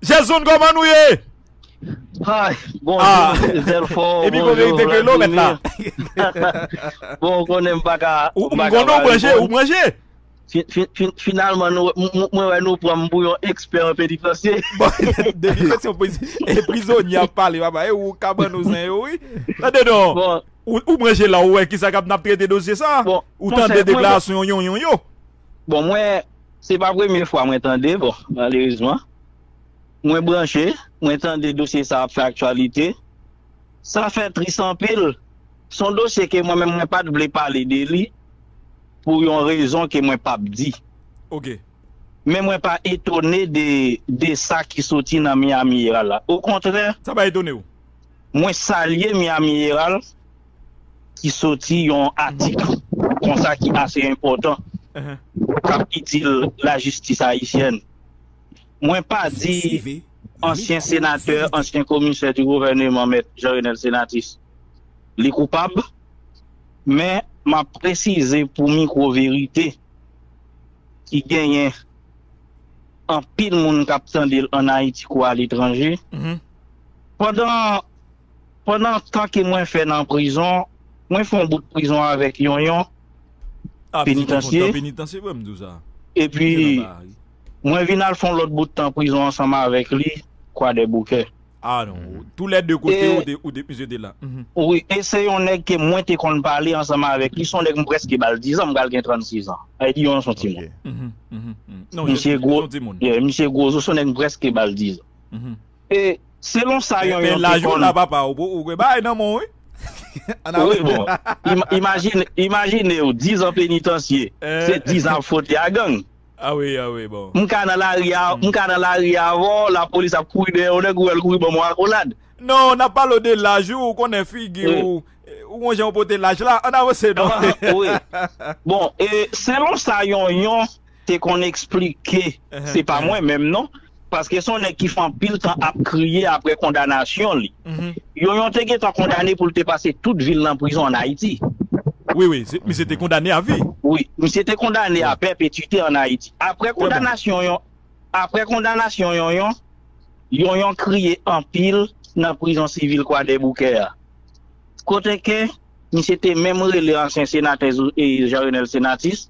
Jezonn koman nou ye? Hi bonjour Delfo bonjour Vladimir bon ou konnen m pa ka ou m konnen ou manje ou manje finalman mwen wè nou pran m pou yon ekspè an pedi franse depi lè se yon prizonye ap pale baba e ou kabann ou zen yo wi tande non ou manje la ou wè kisa k ap n ap trete dosye sa ou tande deklarasyon yon yon yo Bon mwen se pa premye fwa mwen tande bon malerezman mwen branche mwen tande dosye sa ap fè aktyalite sa fè tris anpil son dosye ke mwen menm mwen pat vle pale de li pou yon rezon ke mwen pap di ok men mwen pa etone de de sa ki soti nan Miami Herald la okontrè Sa pa etone ou? mwen salye Miami Herald. ki soti yon atik konsa ki ase enpòtan kap itil lajistis ayisyèn. Mwen pa di ansyen senatè, ansyen komisè di gouvèneman mèt Jean Renel Senatus li koupab men map presize pou mikwo verite ki genyen anpil moun kap tandel an Ayiti kou aletranje pandan Pandan tan ke mwen fè nan prizon, mwen fè yon bout prizon avèk Yonyon, penitansye, epi mwen vin al fè yon lòt bout tan prizon ansanm avèk li, Kwadèboukè. Wi, e se yon nèg ke mwen te konn pale ansanm avèk li, se yon nèg mwen prèske ba l dizan, mwen pral gen 36 an. Sa vle di Yonyon se yon timoun. Misye gwo, misye gwo zo, se yon nèg mwen prèske ba l dizan. E selon sa yon yon te konn. Wi bon, imajinew 10 an penitansye, se 10 an ap fwote a gang. M ka nan lari a avèw, lapolis ap kouri dèyè yon nèg ou wèl kouri banm yon akolad. Non, nap pale w de laj wi, ou konnen figi w, ou won jan ou pote laj la, ann avanse non. Wi, bon e selon sa yon yon. te konn esplike se pa mwen menm non paske se yon nèg ki fè anpil tan ap kriye aprè kondanasyon li yo yon te gentan kondane pou l te pase tout vi l nan prizon an Ayiti Wi wi misye te kondane a vi Wi misye te kondane a pèpetite an Ayiti aprè kondanasyon yon aprè kondanasyon yon yon yon yon kriye anpil nan prizon sivil kwadèboukè a kote ke misye te menm rele ansyen senatè Jean Renel Senatus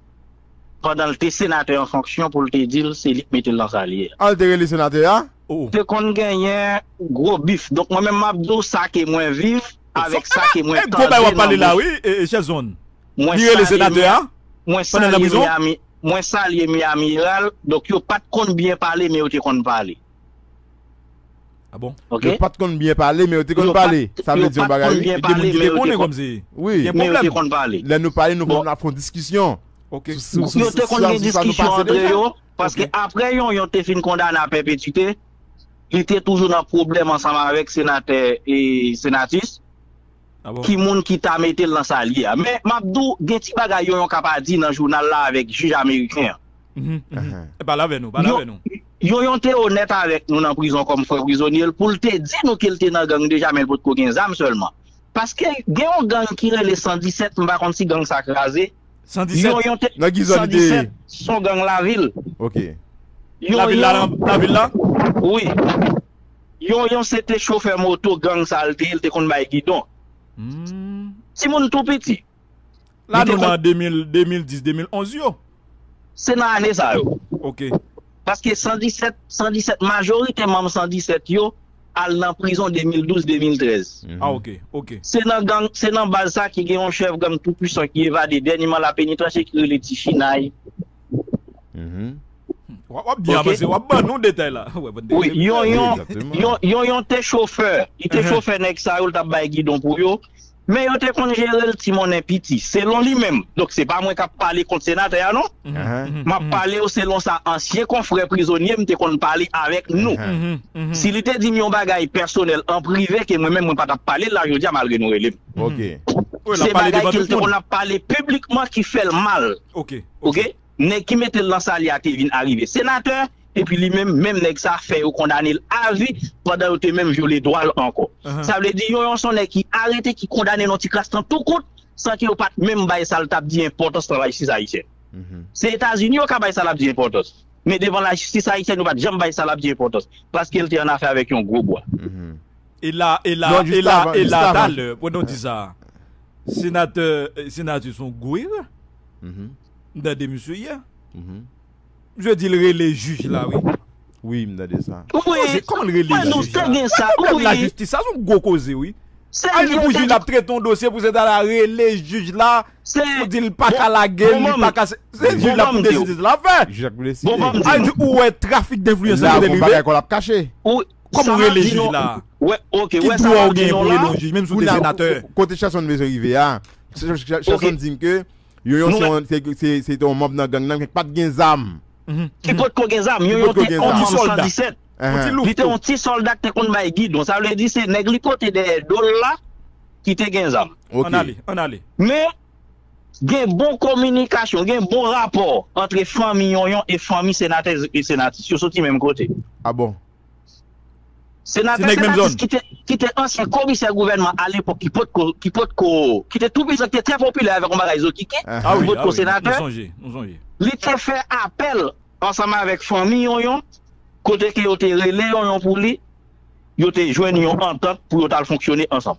pandan l te senatè an fonksyon pou l te di l se li k mete l nan sa l ye a. An l te rele senatè a ou. Te konn genyen gwo bif. Donk mwen menm m ap di w sa ke mwen viv avèk sa ke mwen tande nan bouch. Mwen salye mi mwen salye Miami mwen salye Miami Herald donk yo pa t konn byen pale men yo te konn pale. Ah bon? Ok. Yo pat konn byen pale men yo te konn Yo pat- pale. Sa vle yo di yon pat bagay konn wi. byen Gen moun pale, ki men te yo te konnen kon- kòmsi. Wi. Gen Men yo te pwoblèm. konn pale. Lè nou pale nou Bon. konn ap fon diskisyon. Ok. Sou- sou- Yo sou- te sou- konn sa- gen sou sa nou diskisyon pase antre deja. yo, paske Ok. aprè Yonyon te fin kondane a pèpetite, li te toujou nan pwoblèm ansanm avèk senatè e Senatus. ki moun ki ta mete l nan sa l ye a. Men, m ap di w, gen ti bagay yo yon ka pa di nan jounal la avèk jij ameriken an. Yon yon te onèt avèk nou nan prizon kòm frè prizonye l pou l te di nou ke l te nan gang deja men l potko gen zam sèlman. Paske gen yon gang ki rele 117, m pa konn si gang sa kraze. 117? Nan ki zòn li te ye? 117 s on gang lavil. Ok. Lavil la? Wi. Yon yon se te chofè moto gang sa l te ye l te konn bay gidon ti moun tou piti li te konn. Lane 2010 2011 yo. Se nan ane sa yo. Ok. Paske 117 117 majorite manm 117 yo al nan prizon 2012 2013. Ah ok ok. Se nan gang se nan baz sa ki gen yon chèf gang tou pwisan ki evade dènyeman lapenitansye ki rele ti chinay Wap byen avanse, wap ban nou detay la. Wi, yon yon, yon yon te chofè, li te chofè nèg sa yo li tap bay gidon pou yo, men yo te konn jerel ti monnen piti, selon li menm, donk se pa mwen kap pale kont senatè a non, map pale w selon sa ansyen konfrè prizonye m te konn pale avèk nou, si li te di m yon bagay pèsonèl an prive ke mwen menm mwen pa tap pale l la jodi a malgre nou rele m, se bagay ke l te konn ap pale piblikman ki fè l mal. ok nèg ki metel nan sal ya te vin arive senatè epi li menm menm nèg sa fè yo kondanel avi pandan yo te menm vyole dwal ankò sa vle di yo yon son nèg ki arete ki kondane nan ti kras nan tou kout san ke yo pat menm bay sal tap di enpòtans nan lajistis ayisyèn se etazini yo ka bay sa lap di enpòtans men devan lajistis ayisyèn yo pat janm bay sa lap di enpòtans paskel te annafè avèk yon gwo bwa. E la, e la, e la, e la talè, pwè nou di sa, senatè Senatus son gou ire, m tande misye yè, misye di l rele jij la wi. Wi, m tande sa. Bon koze, kòman l rele jij la? Pwoblèm lajistis sa son gwo koze wi. Al di pou jij la ap trete yon dosye pou se ta la rele jij la pou di l pa ka lage l, li pa ka se, se jij la pou deside sa l ap fè. Jij la pou deside. Al di ou wè trafik denfliyans sa kote l rive. La gon bagay kò l ap kache. Kòman ou rele jij la? Ki dwa ou genyen pou rele yon jij menm si ou te senatè? Kote Sherson m bezwen rive a, Sherson di m ke Yonyon se te yon manb nan gang nan men ki pat gen zam. Ki potko gen zam. Yonyon te yon manb 117. Li te yon ti sòlda ki te konn bay gidon. Sa vle di se nèg li pote dèyè do l la ki te gen zam. An ale, an ale. Men. Gen bon kominikasyon, gen bon rapò antre fanmi Yonyon e fanmi senatè e senatris. Yo soti menm kote. A bon? Senatè, senatris ki te ansyen komisè gouvènman alepòk ki potko, ki potko, ki te tou pwisan, ki te trè popilè avèk yon bagay zokiki, ki potko senatè, li te fè apèl ansanm avèk fanmi Yonyon, kote ke yo te rele Yonyon pou li, yo te jwenn yon antant pou yo t al fonksyone ansanm.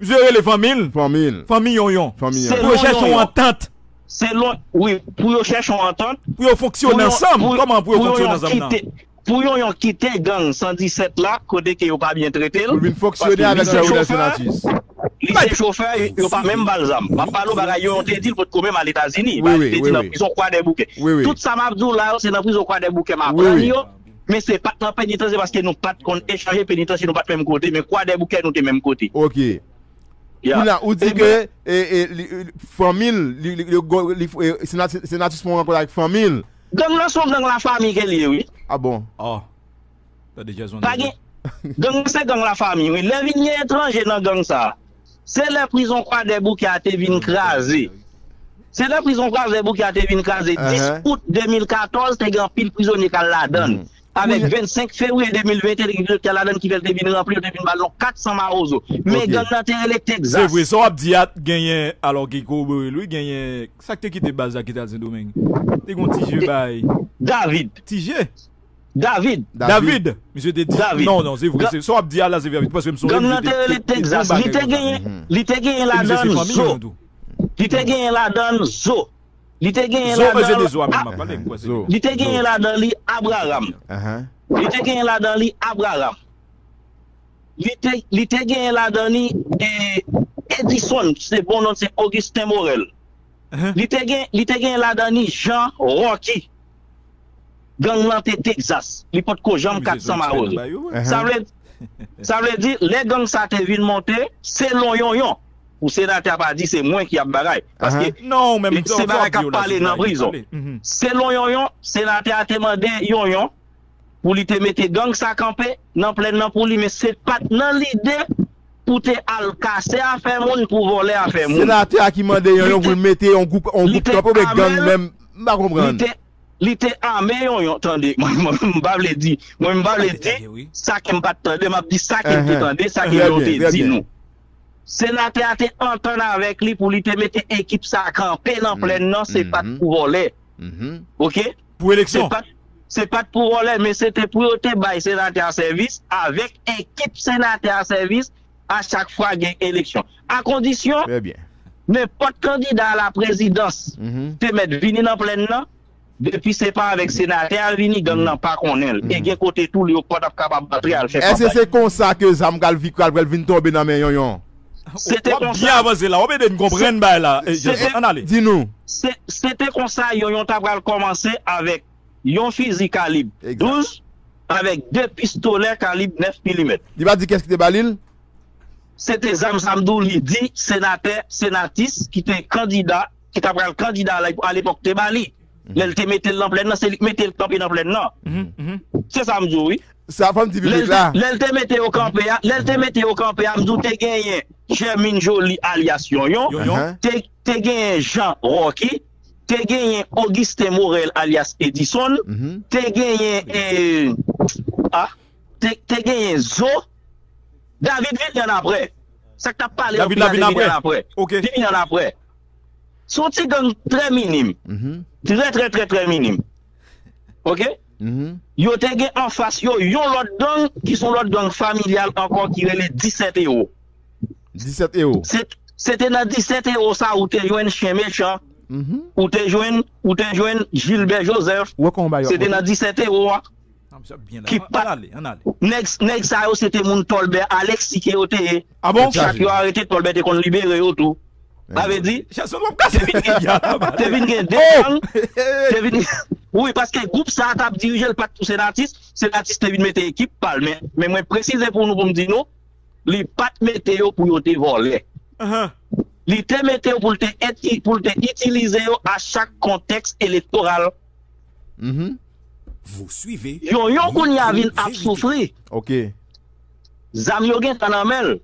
Misye rele fanmi l. Fanmi l. Fanmi Yonyon. Fanmi Yonyon. Pou yo chèche yon antant. Selon, wi, pou yo chèche yon antant. Pou yo fonksyone ansanm. Kòman pou yo fonksyone ansanm nan? Pou Yonyon kite gang 117 la, kote ke yo pa byen trete l. Pou l vin fonksyone avèk Pè Ronel Senatus. Li se chofè, yo pa menm ba l zam. M ap pale w bagay Yonyon te di l potko menm al Etazini. Bagay li te di nan prizon Kwadèboukè. Tout sa m ap di w la yo, se nan prizon Kwadèboukè m aprann yo. Men se pat nan penitansye paske nou pat konn echanje penitansye nou pat menm kote men kwadèboukè nou te menm kote. Ok. Ya. Kounya ou di ke fanmi l Senatus fè yon rankont avèk fanmi l. Gang lan son gang lafami ke l ye wi. Ah bon. Aww. Tande Jason Pa deja. gen Gang lan se gang lafami wi lè vin gen etranje nan gang sa. Se lè prizon Kwadèboukè a te vin kraze. Se lè prizon Kwadèboukè a te vin kraze 10 out 2014 te gen anpil prizonye k al ladan l. Avèk 25 fevriye 2021 te gen prizonye k al ladan l ki fè l te vin ranpli yo te vin ba l yon 400 mawozo. Men gang nan te rele Texas. Se vre sa w ap di a genyen alò ki kowobore l wi genyen sa k te kite baz la ki t al Sendomeng te gen yon Tije bay David. Tije? David. David. Misye te di. David. Non, non, se vre. Sa w ap di a la se verite. Paske m sonje misye te. Gang lan te rele Texas. Li te genyen, li te genyen ladan l zo. Li te genyen ladan l zo. Li te genyen ladan l. Zo, se de zo a menm m ap pale. M kwè se de zo. Li te genyen ladan li Abraham. Li te genyen ladan li Abraham. Li te, li te genyen ladan li Edison, se bon non l se Augustin Morel. Li te genyen, li te genyen ladan li Jean Rocky. Gang lan te Texas, li pot ko janm 400 mawozo. Sa vle di, lè gang sa te vin monte, se lonyonyon. Pou senatè a pa di se mwen ki ap bagay. Paske, se bagay kap pale nan prizon. Se lonyonyon, senatè a te mande yonyon. pou li te mete gang sa kanpe nan plèn nan pou li men se pat nan lide pou te al kase afè moun pou vòlè afè moun. Senatè a ki mande yon yon pou l mete yon gwoup kanpe oubyen gang menm m pa konprann. Li te ame yon yon tande m pa vle di mwen m pa vle di sa ke m pat tande m ap di sa ke m te tande sa ke yo te di nou. Senatè a te antann avèk li pou li te mete ekip sa kanpe nan plèn nan se pat pou vòlè ok. pou eleksyon. Se pat pou vòlè men se te pou yo te bay senatè a sèvis avèk ekip senatè a sèvis a chak fwa gen eleksyon. A kondisyon, nenpòt kandida a la prezidans te mèt vini nan plèn nan, depi se pa avèk senatè a l vini, gang nan pa konnen l e gen kote tou li yo pa t ap kapab antre al fè kanpay. Èske se konsa ke zam pral vin tonbe nan men Yonyon? Se te konsa, se te konsa yon yon ta pral kòmanse avèk yon fizi kalib 12 avèk 2 pistolè kalib 9 milimèt. Li pa di kès ki te ba li l? Se te zam sa m di w li di senatè, senatis ki te kandida, ki ta pral kandida alepòk te ba li. Lè l te mete l nan plèn nan, se li k mete l kanpe nan plèn nan. Se sa m di w wi. Sa fè m di piblik la. Lè l te mete yo kanpe a, lè l te mete yo kanpe a, m di w te genyen Jèmin Joli alyas Yonyon, te genyen Jan Ròki, te genyen Ogisten Morèl alyas Edisonn, te genyen a, te genyen Zo, David vini annapre. Sa k t ap pale yo pi la te vini annapre. Te vini annapre. Se yon ti gang trè minim. Trè trè trè trè minim. Ok? Yo te gen anfas yo yon lòt gang ki se yon lòt gang familyal ankò ki rele 17 Ewo. 17 Ewo. Se te nan 17 Ewo sa ou te jwenn Chen Mechan, ou te jwenn Jilbè Jozèf. Ou wè kòman bagay yo ap monte? Se te nan 17 Ewo a. Ki pat Nèg sa yo se te moun Tolbert Alexis ke yo te ye. Chak yo arete Tolbert te konn libere yo tou. Sa vle di te vin gen te vin gen 2 gang te vin wi paske gwoup sa tap dirije l pat pou Senatus Senatus te vin mete ekip pa l men mwen presize pou nou pou m di nou li pat mete yo pou yo te vòlè li te mete yo pou l te pou l te itilize yo a chak kontèks elektoral. Mph. Vous suivez. Yon yon kounya vin ap soufri. Ok. Zam yo gentan nan menl.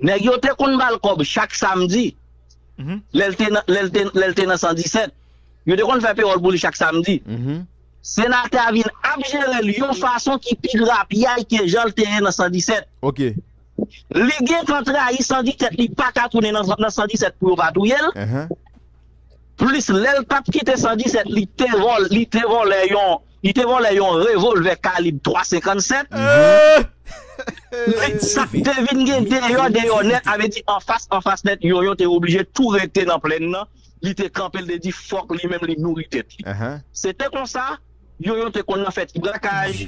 Nèg yo te konn bal kòb chak samdi. Lèl te nan lèl te lèl te nan 117. Yo te konn fè pewòl pou li chak samdi. Senatè a vin ap jerel yon fason ki pi grapyay ke janl te ye nan 117. Ok. Li gentan trayi 117 li paka tounen nan nan 117 pou yo pa touyel. Mph. plis lèl pat kite 117 li te vòl li te vòlè yon li te vòlè yon revolvè kalib 3 57 men sak te vin gen deyò deyò nèt avè di anfas anfas nèt Yonyon te oblije tou rete nan plèn nan li te kanpe li te di fòk li menm li nouri tèt li se te konsa Yo yo te konn nan fè ti brakaj,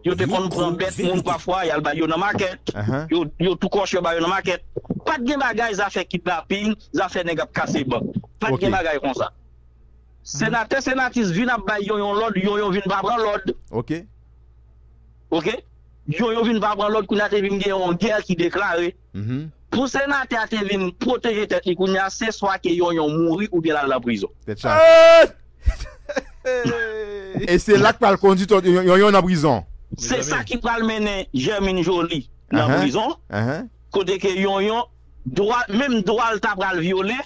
yo te konn pran bèt moun pafwa y al bay yo nan makèt, yo tou kòch yo bay yo nan makèt. Pa t gen bagay zafè kidnapin, zafè nèg ap kase bank. Pa t gen bagay konsa. Senatè Senatis vin ap bay Yonyon lòd, Yonyon vin pa pran lòd. Yonyon vin pa pran lòd kounye a te vin gen yon gè ki deklare. Mph. Pou senatè a te vin pwoteje tèt li kounye a se swa ke Yonyon mouri oubyen l al nan prizon. Tèt chaje. E se la k pral kondi tòt Yonyon nan prizon. Se sa ki pral mennen Germine Joly nan prizon. Kote ke Yonyon, menm dwa l ta pral vyole.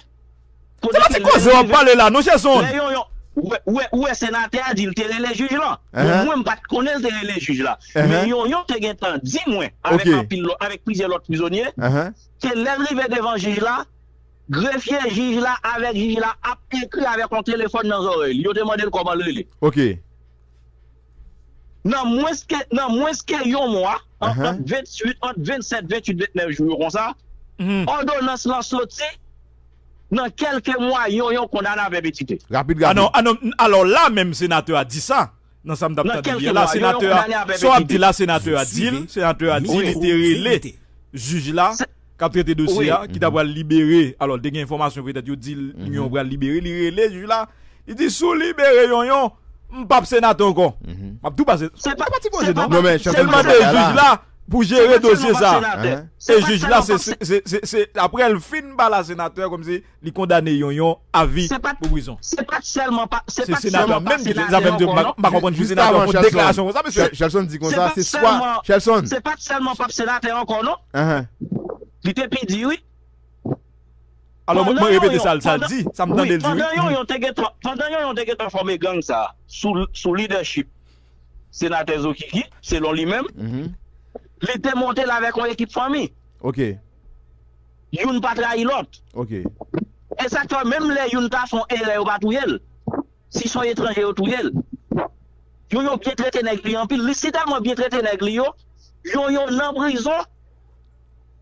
Se pa ti koze wap pale la non Jason. Ou wè senatè a di l te rele jij lan. Bon mwen m pat konnen l te rele jij la. Men Yonyon te gentan di mwen avèk plizyè lòt prizonye ke lè l rive devan jij la grefye jij la avèk jij la ap ekri avèk yon telefòn nan zòrèy li. Yo te mande l kòman l rele. Nan mwens ke nan mwens ke yon mwa, ant 28 ant 27 28 29 jou yo konsa, òdonans lan soti nan kèlke mwa yon yon kondane avè petite. Rapid gade. Anon anon alò la menm senatè a di sa nan sa m tap tande li a la senatè a sa w ap di la senatè a di l senatè a di li te rele jij la. k ap trete dosye a ki ta pral libere alò te gen enfòmasyon petèt yo di l yon pral libere li rele jij la li di si w libere yon yon m p ap senatè ankò m ap tou pase se pa ti pwojè non se l mande jij la pou jere dosye sa e jij la se se se se aprè l fin ba la senatè kòmsi li kondane yon yon avi pou prizon. Se pat sèlman pa senatè menm ki fè sa menm m pa konprann pou senatè fè deklarasyon konsa mesye. Shelson di konsa se swa Shelson. Se pat sèlman pa senatè ankò non. Li te pi di wi. Alò mwen repete sa l di, sa m tande l di wi. Pandan yon yon te gentan, pandan yon yon te gentan fòme gang sa sou lidèchip senatè Zokiki selon li menm, li te monte l avèk yon ekip fanmi. Ok. youn pa trayi lòt. E sa k fè menm lè youn ta fè yon erè yo pa touye l. Si s on etranje yo touye l. Yon yo byen trete nèg li anpil. Li si tèlman byen trete nèg li yo, yon yo nan prizon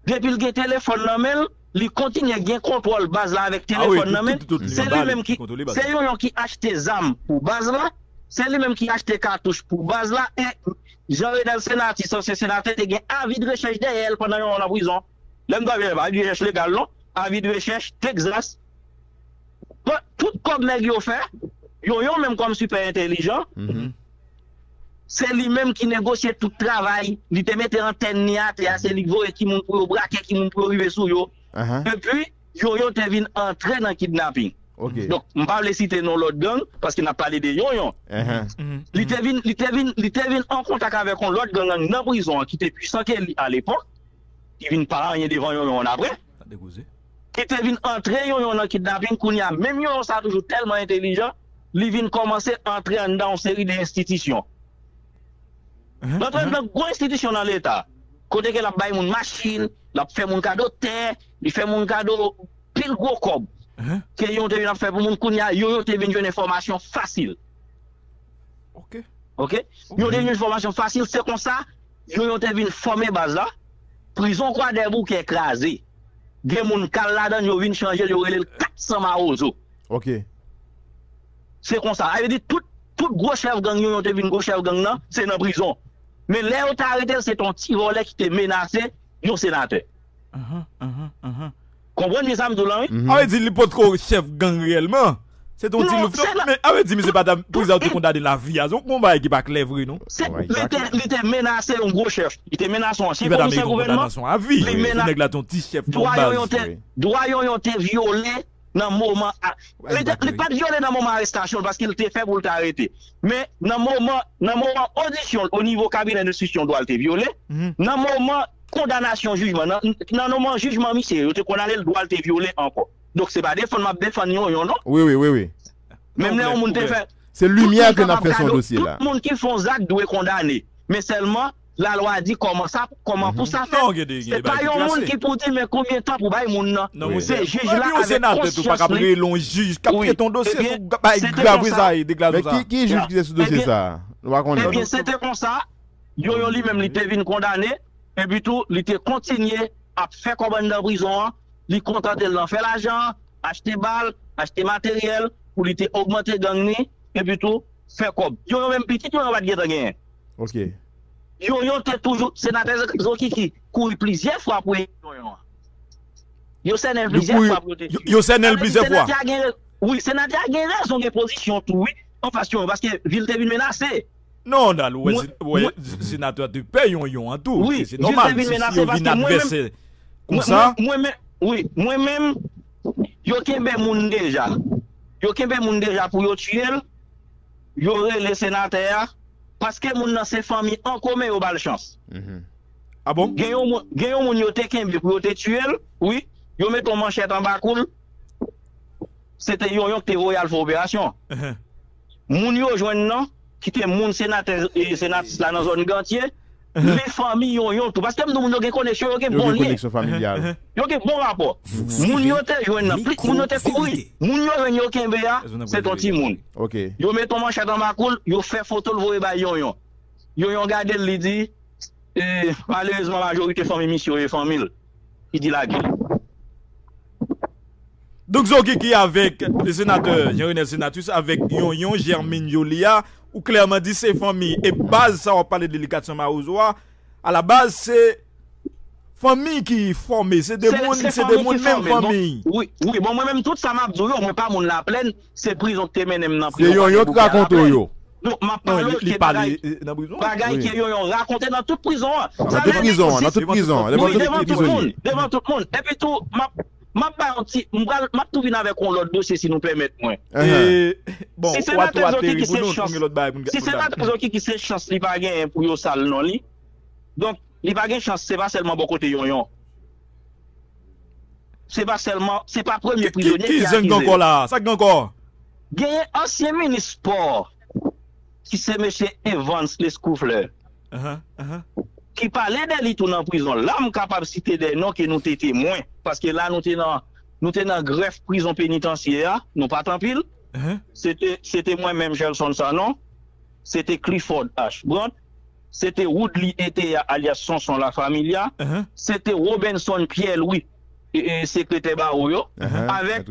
depi l gen telefòn nan men l, li kontinye gen kontwòl baz la avèk telefòn nan men l. Se li menm ki, se yon yo ki achte zam pou baz la, se li menm ki achte katouch pou baz la e Jean Renel Senati, sansye senatè te gen avidrechèch dèyè l pandan yon an nan prizon. Lè m tande pa gen jès legal non, avi de rechèch, Texas, bon tout kòb nèg yo fè, yo yon menm kòm sipè entèlijan, se li menm ki negosye tout travay, li te mete antèn ni atè a, se li k voye ki moun pou yo brake, ki moun pou yo rive sou yo, epi yo yon te vin antre nan kidnaping. Donk m pa vle site non lòt gang, paske n ap pale de yon yon. Li te vin, li te vin, li te vin an kontak avèk yon lòt gang nan prizon an ki te pwisan ke li alepòk. ki vin pa anyen devan yon yon an aprè ki te vin antre yon yon nan kidnaping kounye a menm yon yon sa toujou tèlman entelijan li vin kòmanse antre anndan yon seri de enstitisyon li antre anndan gwo enstitisyon nan leta kote ke l ap bay moun machin l ap fè moun kado tè li fè moun kado pil gwo kòb ke yon te vin ap fè pou moun kounye a yon yon te vin jwenn enfòmasyon fasil ok yon te jwenn enfòmasyon fasil se konsa Yo yo te vin fòme baz la. Prizon kwadèboukè kraze. Gen moun kal ladann yo vin chanje l yo rele l 400 mawozo. Ok. Se konsa. Sa vle di tout tout gwo chèf gang yo yo te vin gwo chèf gang nan se nan prizon. Men lè yo te arete l se te yon ti vòlè ki te menase yon senatè. Ahan ahan ahan. Konprann byen sa m di w lan wi. A vle di li potko chèf gang reyèlman. Se te yon ti louvtan. Men a vle di misye pata pou sa yo te kondane lavi a. Se yon bagay ki pa klè vre non. Se li te menase yon gwo chèf. Li te menase yon ansyen komisè gouvènman. Li menase dwa yon yon te vyole nan moman li pat vyole nan moman arestasyon l paske l te fè pou l te arete. Men nan moman odisyon l o nivo kabinè enstriksyon dwa l te vyole. Nan moman kondanasyon jijman nan nan noman jijman misye yo te kondane l dwa l te vyole ankò donk se pa defann map defann yon yon non Wi wi wi wi menm lè yon moun te fè Se tout limyè moun ke nap kapab fè sou yon gade w dosye la. tout moun ki fon zak dwe kondane men sèlman la lwa di kòman sa kòman pou sa fèt se pa yon moun ki pou di men konbyen tan pou bay moun nan se jij la avèk konsyans li wi ebyen se te konsa Men ki ki jij ki te sou dosye sa a? Nou pa konnen ebyen se te konsa. Yoyo li menm li te vin kondane epi tou li te kontinye ap fè kòb anndan prizon an, li kontante l nan fè lajan, achte bal, achte materyèl pou li te ogmante gang ni epi tou fè kòb. Yoyo menm pitit yoyo pat gentan genyen. Ok. Yoyo te toujou, senatè Zokiki kouri plizyè fwa pou ede yoyo an. Yo sènen l plizyè fwa pou yo te siy. Yo sènen l plizyè fwa. Wi senatè a gen rezon gen pozisyon tou wi anfas yoyo paske vi l te vin menase. Non Ronald ou wè senatè te pè yonyon an tou e se nòmal si yo vin advèsè konsa. Wi mwen menm yo kenbe moun deja, yo kenbe moun deja pou yo tiyel, yo rele senatè a paske moun nan se fanmi an komen yo bal chans. Gen yon moun yo te kenbe pou yo te tiyel wi, yo mete yon manchèt anba koul, se te yonyon ki te voye al fè operasyon an. moun yo jwenn nan ki te moun senatè e senatis la nan zòn Gantye, men fanmi Yonyon tou. Paske m di w moun yo gen koneksyon, yo gen bon lyen. Yo gen bon rapò. Moun yo te jwenn nan, plis moun yo te kouri. Moun yo jwenn yo kenbe a, se t on timoun. Yo met on manchèt anba kou l, yo fè foto l voye bay Yonyon. Yonyon gade l, li di, Malerezman majorite fanmi misye yo e fanmi l ki dilapide. Doc Zokiki avèk senatè Jean Renel Senatus avèk Yonyon Germine Joly a, ou klèman di se fanmi e baz sa wap pale de li 400 mawozo a, a la baz se fanmi ki fòme, se de moun, se de moun menm fanmi. Wi, bon mwen menm tout sa map di w yo mwen pa moun laplèn. Se prizon ki te mennen m nan prizon Palè Bouke a. Se Yonyon ki rakonte w yo? Non, m ap pale w ke bagay, bagay ke Yonyon rakonte nan tout prizon an. Nan tout prizon an, nan tout prizon an, devan tout prizonye. Wi, devan tout moun, devan tout moun. Epi tou, m ap, m ap bay yon ti, m pral, m ap tou vin avèk yon lòt dosye si nou pèmèt mwen. E, bon, si Senatè Zokiki se chans, si Senatè Zokiki se chans li pa genyen pou yo sal non li, donk, li pa gen chans, se pa sèlman bò kote Yonyon. Se pa sèlman, se pa premye prizonye ki akize yo. Genyen ansyen minis spò ki se mesye Evans Lescouflair ki pale de li tou nan prizon. La m kapab site de non ke nou te temwen paske la nou te nan grèf prizon penitansye a, nou pa t anpil. Se te mwen menm Gelson Sanon, se te Clifford Ashbrand, se te Woodly Etea alyas Sonson La Familia, se te Robenson Pierre Louis, sekretè bawo yo, avèk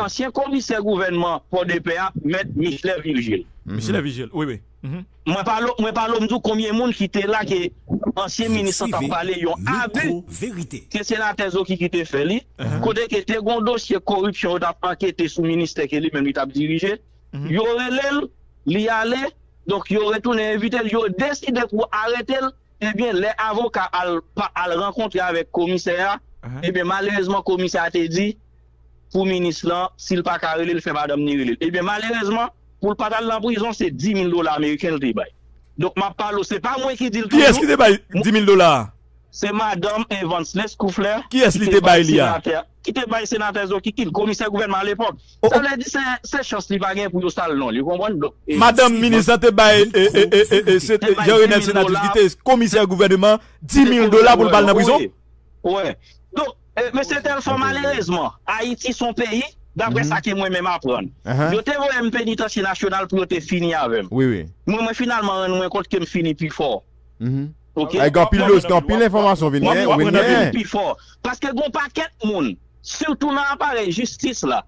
ansyen komisè gouvènman Pòdepè a, mèt Michelet Virgile. Mwen pale w m di w konbyen moun ki te la ke ansyen minis lan t ap pale yon abi ke senatè Zokiky te fè li, kote ke te gen yon dosye koripsyon yo t ap ankete sou ministè ke li menm li t ap dirije, yo rele l, li ale. Donk yo retounen envite l, yo deside pou arete l, ebyen lè avoka al pa al rankontre avèk komisè a, ebyen malerezman komisè a te di pou minis lan si l pa ka rele l fè madanm ni rele l, ebyen malerezman pou l pa t al nan prizon se 10000 dola ameriken l te bay. Donk m ap pale w se pa mwen ki di l toujou. Kiyès ki te bay 10000 dola a? Se madanm Evans Lescouflair ki te bay senatè Zoki Kill, komisè gouvènman alepòk. Sa vle di se chans li pa gen pou yo sal non li ou konprann donk. Madanm minis lan te bay Jean Renel Senatus ki te komisè gouvèneman 10000 dola pou l pa al nan prizon. Wè donk mesye Telfò malerezman Ayiti son peyi daprè sa ke mwen menm aprann yo te voye m penitansye nasyonal pou yo te fini avè m men mwen finalman rann mwen kont ke m fini pi fò ok. Gen anpil enfòmasyon vini. Mwen fini pi fò paske gon pakèt moun. Sitou nan aparèy jistis la,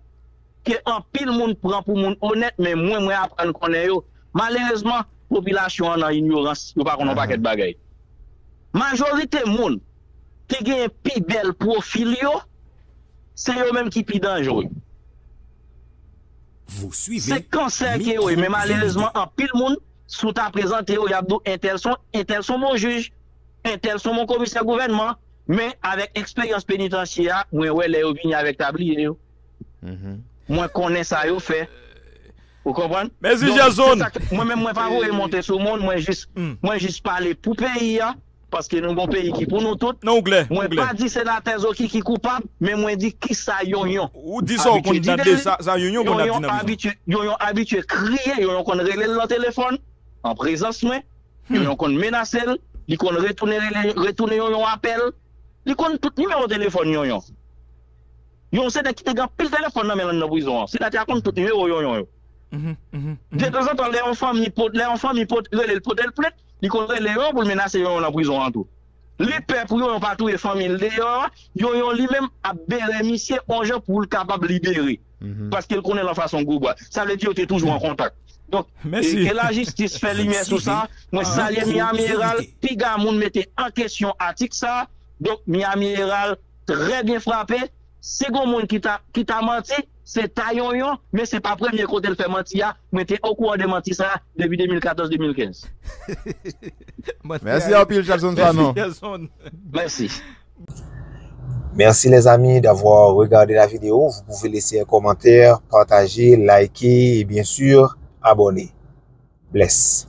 ke anpil moun pran pou moun onèt men mwen, mwen aprann konnen yo, malerezman, popilasyon an nan inyorans, yo pa konnen yon pakèt bagay. Majorite moun ki genyen pi bèl pwofil yo, se yo menm ki pi danjre. Se kansè ke yo ye men malerezman anpil moun, si w ta prezante yo, y ap di w entèl se yon bon jij. Entèl son bon komisè gouvènman, men avèk eksperyans penitansye a, mwen wè lè yo vini avèk tabliye yo. Mwen konnen sa yo fè. Ou konprann? Mèsi Jèson! Mwen menm mwen pa voye monte sou moun, mwen jis mwen jis pale pou peyi a, paske nou gon peyi ki pou nou tout. Nan ou klè, ou klè. Mwen pa di senatè Zokiki koupab, men mwen di kisa Yonyon Ou di sa ou konn nan de sa sa Yonyon konn ap di nan prizon. Yonyon abitye kriye, Yonyon konn rele l nan telefòn, an prezans mwen. Yon yon konn menase l, li konn retounen rele retounen yon yon apèl, li konn tout nimewo telefòn yon yon. Yon yon se nèg ki te gen anpil telefòn nan men l anndan prizon an. Senatè a konn tout nimewo yon yon yo. Detanzantan lè yon fanmi pot lè yon fanmi pot rele l pote l plent, li konn rele yon pou l menase yon yon nan prizon an tou. Li pè pou yoyon pa touye fanmil deyò a, yoyon li menm ap bere misye on jan poul kapab libere paskel konnen lan fason gwo bwa sa vle di yo te toujou an kontak donk ke la jistis fè limyè sou sa mwen salye Miami Herald piga moun mete an kesyon atik sa donk Miami Herald trè byen frape si gon moun ki ta manti. Se ta yonyon, men se pa premye kote l fè manti a, mwen te okouran de manti sa depi 2014, 2015. Mèsi anpil Shelson Sanon. Mèsi. Merci les amis d'avoir regardé la vidéo, vous pouvez laisser un commentaire, partager, liker et bien sûr abonner. Bless.